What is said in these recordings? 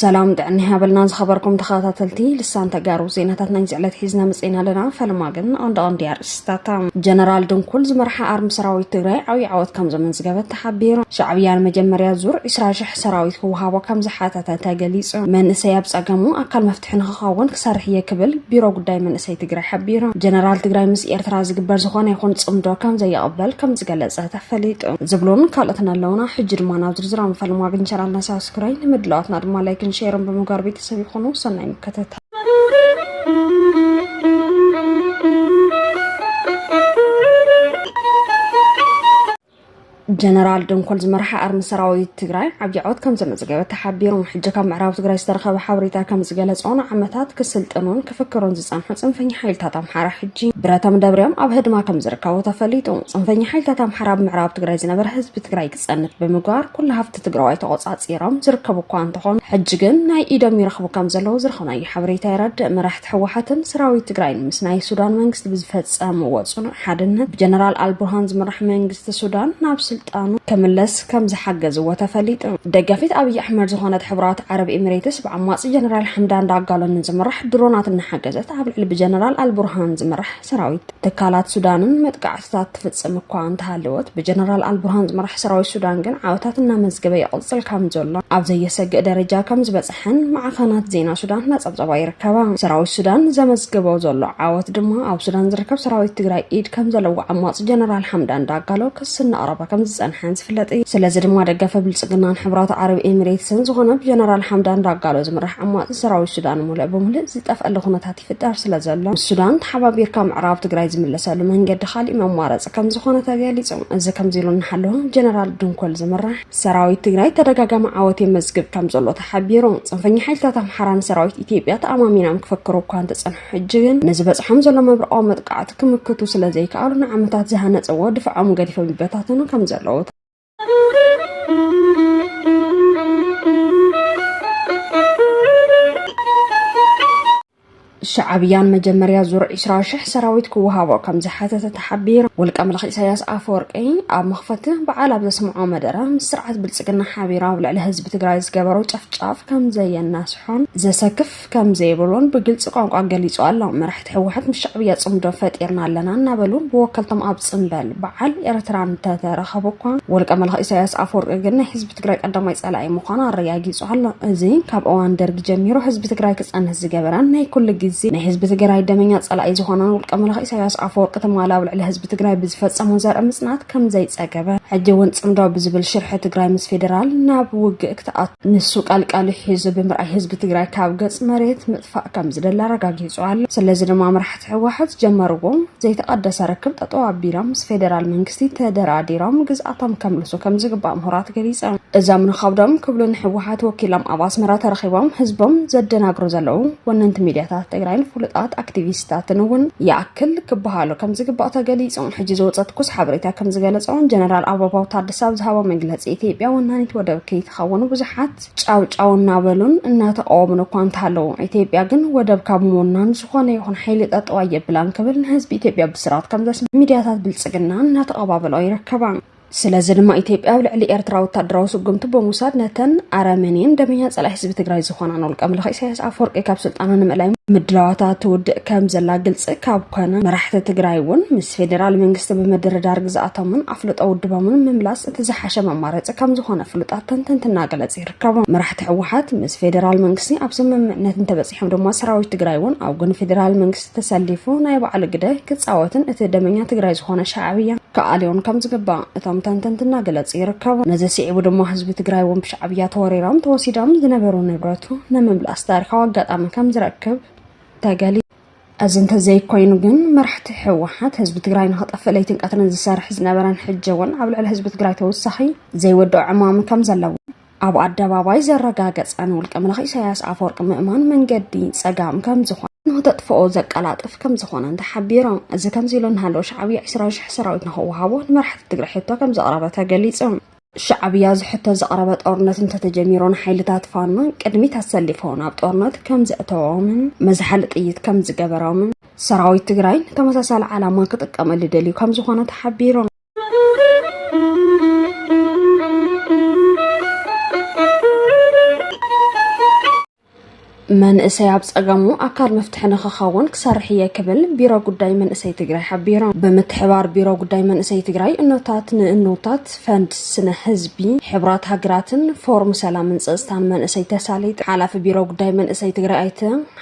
ሰላም ጥዕና ያበልና ዝኸበርኩም ተኸታተልቲ ልሳን ተጋሩ ዜናታት ናይ ዝዕለት ሒዝና መፅና ኣለና ፈለማ ግን ኣንዳ ቀንዲ ኣርእስታታ ጀነራል ድንኩል ዝመርሓ ኣርሚ ሰራዊት ትግራይ ዓብዪ ዓወት ከም ዘመዝገበት ተሓቢሩ ሻዕብያ ንመጀመርያ ዙር 20 ሽሕ ሰራዊት ክወሃቦ ከም ዝሓተተ ተገሊፁ መንእሰይ ኣብ ፀገሙ ኣካል መፍት ፍትሒ ንክኸውን ክሰርሕ እየ ክብል ቢሮ ጉዳይ መንእሰይ ትግራይ ሓቢሩ። ጀነራል ትግራይ ምስ ኤርትራ ዝግበር ዝኾነ ይኹን ፅምዶ ከምዘይቕበል ከምዝገለፀ ተፈሊጡ። ዝብሉን ካልኦትን ኣለውና። ሕጂ ድማ ናብ ዝርዝራዊ መፈለማ ግን ቻናልና ሳብስክራይ፣ ንምድላዋትና ድማ ላይክን ሼርን ብምግባር ቤተሰብ ይኹኑ። ሰናይ ምክትታል። ጀነራል ደንኮል ዝመርሓ ኣርሚ ሰራዊት ትግራይ ዓብዪ ዓወት ከም ዘመዝገበ ተሓቢሩ። ሕጂ ካብ ምዕራብ ትግራይ ዝተረኸበ ሓበሬታ ከም ዝገለጾ ንዓመታት ክስልጥኑን ክፍክሩን ዝጸንሑ ጽንፈኛ ሓይልታት ኣምሓራ ሕጂ ብረቶም ደብርዮም ኣብ ህድማ ከም ዝርከቡ ተፈሊጡ። ጽንፈኛ ሓይልታት ኣምሓራ ኣብ ምዕራብ ትግራይ ዝነበረ ህዝቢ ትግራይ ክጸንት ብምግባር ኩሉ ሃፍቲ እቲ ትግራዋይ ተቖፃፂሮም ዝርከቡ እኳ እንተኾኑ ሕጂ ግን ናይ ኢዶም ይረኽቡ ከም ዘለዉ ዝረኸብናዮ ሓበሬታ የረድእ። መራሕቲ ህወሓትን ሰራዊት ትግራይን ምስ ናይ ሱዳን መንግስቲ ብዝፈፀምዎ ፅኑዕ ሓድነት ብጀነራል ኣልቡርሃን ዝምራሕ መንግስቲ ሱዳን ናብ ስልጣኑ ክምለስ ከም ዝሓገዝዎ ተፈሊጡ። ደጋፊት ኣብይ ኣሕመድ ዝኾነት ሕቡራት ዓረብ ኢሚሬትስ ብዓማፂ ጀነራል ሓምዳን ዳጋሎን ንዝምራሕ ድሮናት እናሓገዘት ኣብ ልዕሊ ብጀነራል ኣልቡርሃን ዝምራሕ ሰራዊት ትካላት ሱዳንን መጥቃዕትታት ትፍጽም እኳ እንተሃለወት ብጀነራል ኣልቡርሃን ዝምራሕ ሰራዊት ሱዳን ግን ዓወታት እናመዝገበ ይቕጽል ከም ዘሎ ኣብ ዘየሰግእ ደረጃ ከም ዝበጽሐን ማዕኸናት ዜና ሱዳን እናጸብጸባ ይርከባ። ሰራዊት ሱዳን ዘመዝገቦ ዘሎ ዓወት ድማ ኣብ ሱዳን ዝርከብ ሰራዊት ትግራይ ኢድ ከም ዘለዎ ዓማጺ ጀነራል ሓምዳን ዳጋሎ ክሲ እናቕረበ ከም ዝጸንሐን ዝፍለጥ እዩ። ስለዚ ድማ ደገፈ ብልጽግናን ሕብራት ዓረብ ኤሚሬትስን ዝኾነ ብጀነራል ሓምዳን ዳጋሎ ዝምራሕ ዓማጺ ሰራዊት ሱዳን ሙልእ ብሙልእ ዝጠፍኣሉ ኩነታት ክፍጠር ስለዘሎ ምስ ሱዳን ተሓባቢርካ ምዕራብ ትግራይ ዝምለሰሉ መንገዲ ካሊእ መማረፂ ከምዝኾነ ተገሊፁ። እዚ ከምዚ ኢሉ እናሃለወ ጀነራል ድንኮል ዝምራሕ ሰራዊት ትግራይ ተደጋጋሚ ዓወት የመዝግብ ከምዘሎ ተሓቢሩ። ፅንፈኛ ሓይልታት ኣምሓራ ንሰራዊት ኢትዮጵያ ተኣማሚኖም ክፍክሩ እኳ እንተፀንሑ ሕጂ ግን ንዝበፅሖም ዘሎ መብረቓዊ መጥቃዕቲ ክምክቱ ስለዘይከኣሉ ንዓመታት ዝሃነፅዎ ድፋዖም ገዲፎም ይበታተኑ ከምዘለዉ ሻዕብያን መጀመርያ ዙር 20 ሽሕ ሰራዊት ክወሃቦ ከም ዝሓተተ ተሓቢሩ ውልቀ ምልኺ ኢሳያስ ኣፈወርቂ ኣብ መኽፈቲ በዓል ኣብ ዘስምዖ መደረ ምስ ስርዓት ብልፅግና ሓቢራ ኣብ ልዕሊ ህዝቢ ትግራይ ዝገበሮ ጨፍጫፍ ከም ዘየናስሖን ዘሰክፍ ከም ዘይብሉን ብግልፂ ቋንቋ ገሊፁ ኣሎ። መራሕቲ ህወሓት ምስ ሻዕብያ ፅምዶ ፈጢርና ኣለና እናበሉ ብወከልቶም ኣብ ፅምበል በዓል ኤርትራ እንተተረኸቡ እኳ ውልቀ መላኺ ኢሳያስ ኣፈወርቂ ግን ናይ ህዝቢ ትግራይ ቀዳማይ ፀላኢ ምዃኑ ኣረጋጊፁ ኣሎ። እዚ ካብ እዋን ደርጊ ጀሚሩ ህዝቢ ትግራይ ክፀንት ዝገበረን ናይ ኩሉ ግዜ ናይ ህዝቢ ትግራይ ደመኛ ፀላኢ ዝኾነን ውልቀ መላኺ ኢሳያስ ኣፈወርቂ ትማል ኣብ ልዕሊ ህዝቢ ትግራይ ብዝፈፀሞ ዘርኢ ምፅናት ከም ዘይፀገበ ሕጂ እውን ፅምዶ ብዝብል ሽርሒ ትግራይ ምስ ፌደራል ናብ ውግእ ክትኣቱ ንሱ ቀልቀሊ ሒዙ ብምርኣይ ህዝቢ ትግራይ ካብ ገፅ መሬት ምጥፋእ ከም ዝደሊ ኣረጋጊፁ ኣሎ። ስለዚ ድማ መራሕቲ ህወሓት ዝጀመርዎ ዘይተቐደሰ ርክብ ጠጠው ኣቢሎም ምስ ፌደራል መንግስቲ ተደራዲሮም ግዝኣቶም ከምልሱ ከም ዝግባእ ምሁራት ገሊፆም። እዞም ንኸብዶም ክብሉ ንህወሓት ወኪሎም ኣብ ኣስመራ ተረኺቦም ህዝቦም ዘደናግሩ ዘለዉ ወነንቲ ሚድያታት ትግራይን ፍሉጣት ኣክቲቪስታትን እውን ይኣክል ክበሃሉ ከም ዝግባእ ተገሊፁ። ሕጂ ዝወፀ ትኩስ ሓበሬታ ከም ዝገለፆ ጀነራል ኣበባው ታደሰ ክሳብ ዝሃቦ መግለፂ ኢትዮጵያ ወናኒት ወደብ ከይትኸውን ብዙሓት ጫውጫው እናበሉን እናተቃወሙን እኳ እንተሃለዉ ኢትዮጵያ ግን ወደብ ካብ ምውናን ዝኾነ ይኹን ሓይሊ ጠጠው ኣየብላን ክብል ንህዝቢ ኢትዮጵያ ብስራት ከም ዘስምዕ ሚድያታት ብልፅግና እናተቐባበልኦ ይርከባ። ስለዚ ድማ ኢትዮጵያ ኣብ ልዕሊ ኤርትራ ወታደራዊ ስጉምቲ ብምውሳድ ነተን ኣረመኔን ደመኛ ጸላኢ ህዝቢ ትግራይ ዝኾናን ውልቀ ምልኺ ኢሳያስ ኣፈወርቂ ካብ ስልጣና ንምእላይ ምድላዋታ ትውድእ ከም ዘላ ግልፂ ካብ ኮነ መራሕቲ ትግራይ እውን ምስ ፌዴራል መንግስቲ ብምድርዳር ግዝኣቶምን ኣፍልጦ ውድቦም ንምምላስ እቲ ዝሓሸ መማረፂ ከምዝኾነ ፍሉጣት ተንተንቲ እናገለፅ ይርከቡ። መራሕቲ ህወሓት ምስ ፌዴራል መንግስቲ ኣብ ስምምዕነት እንተበፂሖም ድማ ሰራዊት ትግራይ እውን ኣብ ጎኒ ፌዴራል መንግስቲ ተሰሊፉ ናይ ባዕሉ ግደ ክፃወትን እቲ ደመኛ ትግራይ ዝኾነ ሻዕብያ ክኣልዮን ከምዝግባእ እቶም ተንተንቲ እናገለፁ ይርከቡ። ነዚ ስዒቡ ድማ ህዝቢ ትግራይ እውን ብሻዕብያ ተወሪሮም ተወሲዶም ዝነበሩ ንብረቱ ንምምላስ ታሪኻዊ ኣጋጣሚ ከምዝረክብ ተገሊፁ። እዚ እንተዘይኮይኑ ግን መራሕቲ ህወሓት ህዝቢ ትግራይ ንክጠፍእ ለይትን ቀትርን ዝሰርሕ ዝነበረን ሕጂ እውን ኣብ ልዕሊ ህዝቢ ትግራይ ተወሳኺ ዘይወድኦ ዕማም ከም ዘለዎ ኣብ ኣደባባይ ዘረጋገፀን ውልቀ መላኺ ኢሳያስ ኣፈወርቂ ምእማን መንገዲ ፀጋም ከም ዝኾነ ንክተጥፍኦ ዘቀላጥፍ ከም ዝኾነን ተሓቢሮም እዚ ከምዚ ኢሉ እናሃለወ ሻዕብያ 20 ሽሕ ሰራዊት ንክወሃቦ ንመራሕቲ ትግራይ ሕቶ ከም ዘቕረበ ተገሊጹ ሻዕብያ ዝሕቶ ዘቕረበ ጦርነት እንተተጀሚሩ ንሓይልታት ፋኖ ቅድሚት ኣሰሊፎ ናብ ጦርነት ከም ዘእተዎምን መዝሓሊ ጥይት ከም ዝገበሮምን ሰራዊት ትግራይ ንተመሳሳሊ ዓላማ ክጥቀመሉ ደልዩ ከም ዝኾነ ተሓቢሩ። መንእሰይ ኣብ ፀገሙ ኣካል መፍትሒ ንክኸውን ክሰርሕ እየ ክብል ቢሮ ጉዳይ መንእሰይ ትግራይ ሓቢሩ። ብምትሕባር ቢሮ ጉዳይ መንእሰይ ትግራይ እኖታት ንእኖታት ፈንድ ስነ ህዝቢ ሕብራት ሃገራትን ፎርም ሰላምን ፀፅታን መንእሰይ ተሳሊጥ ሓላፊ ቢሮ ጉዳይ መንእሰይ ትግራይ ኣይተ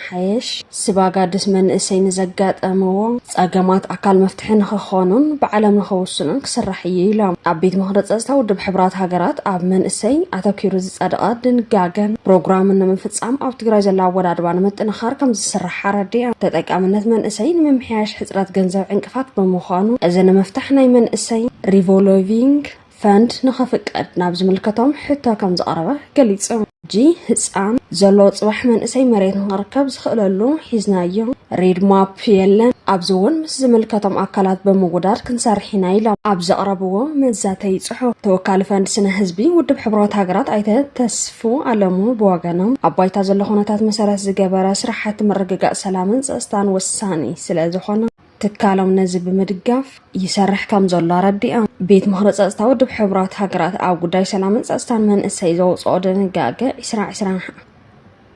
ሓየሽ ስባጋድስ መንእሰይ ንዘጋጠምዎ ፀገማት ኣካል መፍትሒ ንክኾኑን ብዓለም ንክውስኑን ክስራሕ እዩ ኢሎም። ኣብ ቤት ምኽሪ ፀፅታ ውድብ ሕቡራት ሃገራት ኣብ መንእሰይ ኣተኲሩ ዝፀደቐ ድንጋገን ፕሮግራምን ንምፍፃም ኣብ ትግራይ ዘሎ ኣወዳድባ ንምጥንኻር ከምዝስራሕ ኣረዲኦም። ተጠቃምነት መንእሰይ ንምምሕያሽ ሕፅረት ገንዘብ ዕንቅፋት ብምዃኑ እዚ ንምፍታሕ ናይ መንእሰይ ሪቮሎቪንግ ፈንድ ንኸፍቀድ ናብ ዝምልከቶም ሕቶ ከም ዝቐረበ ገሊጹ። ሕጂ ህፃን ዘሎ ፅባሕ መንእሰይ መሬት ንኽርከብ ዝኽእለሉ ሒዝናዮ ሬድ ማፕ የለን ኣብዚ እውን ምስ ዝምልከቶም ኣካላት ብምውዳድ ክንሰርሕ ኢና ኢሎም ኣብ ዘቕረብዎ መዛተይ ጽሑፍ ተወካሊ ፈንድ ስነ ህዝቢ ውድብ ሕብረት ሃገራት ኣይተ ተስፉ ኣለሙ ብወገኖም ኣብ ባይታ ዘሎ ኩነታት መሰረት ዝገበረ ስራሕቲ ምርግጋእ ሰላምን ፀፅታን ወሳኒ ስለ ዝኾነ ትካሎም ነዚ ብምድጋፍ ይሰርሕ ከም ዘሎ ኣረዲኦም። ቤት ምኽሪ ጸጥታ ውድብ ሕቡራት ሃገራት ኣብ ጉዳይ ሰላምን ጸጥታን መንእሰይ ዘውጽኦ ድንጋገ 2020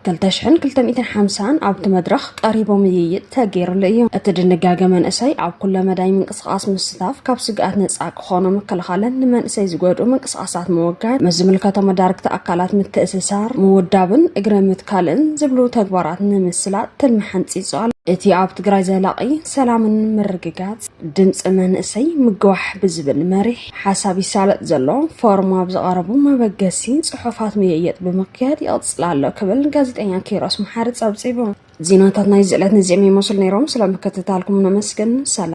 2250 ኣብቲ መድረኽ ቀሪቡ ምይይጥ ተገይርሉ እዩ። እቲ ድንጋገ መንእሰይ ኣብ ኩለ መዳይ ምንቅስቓስ ምስታፍ ካብ ስግኣት ነጻ ኾኖ ምክልኻልን ንመንእሰይ ዝጎድኡ ምንቅስቓሳት ምውጋድ፣ ምስ ዝምልከቶም መዳርግቲ ኣካላት ምትእስሳር፣ ምውዳብን እግረ ምትካልን ዝብሉ ተግባራት ንምስላጥ ትልሚ ሓንፂፁ ኣሎ። እቲ ኣብ ትግራይ ዘላቒ ሰላምን ምርግጋፅ ድምፂ መንእሰይ ምግዋሕ ብዝብል መሪሕ ሓሳብ ይሳለጥ ዘሎ ፎርም ኣብ ዝቐረቡ መበገሲ ፅሑፋት ምይይጥ ብምክያድ ይቕፅል ኣሎ ክብል ጋዜጠኛ ኪሮስ መሓሪ ፀብፂቡ። ዜናታት ናይዚ ዕለት ነዚኦም ይመስሉ ነይሮም። ስለምክትታልኩም ነመስግን። ሰላም።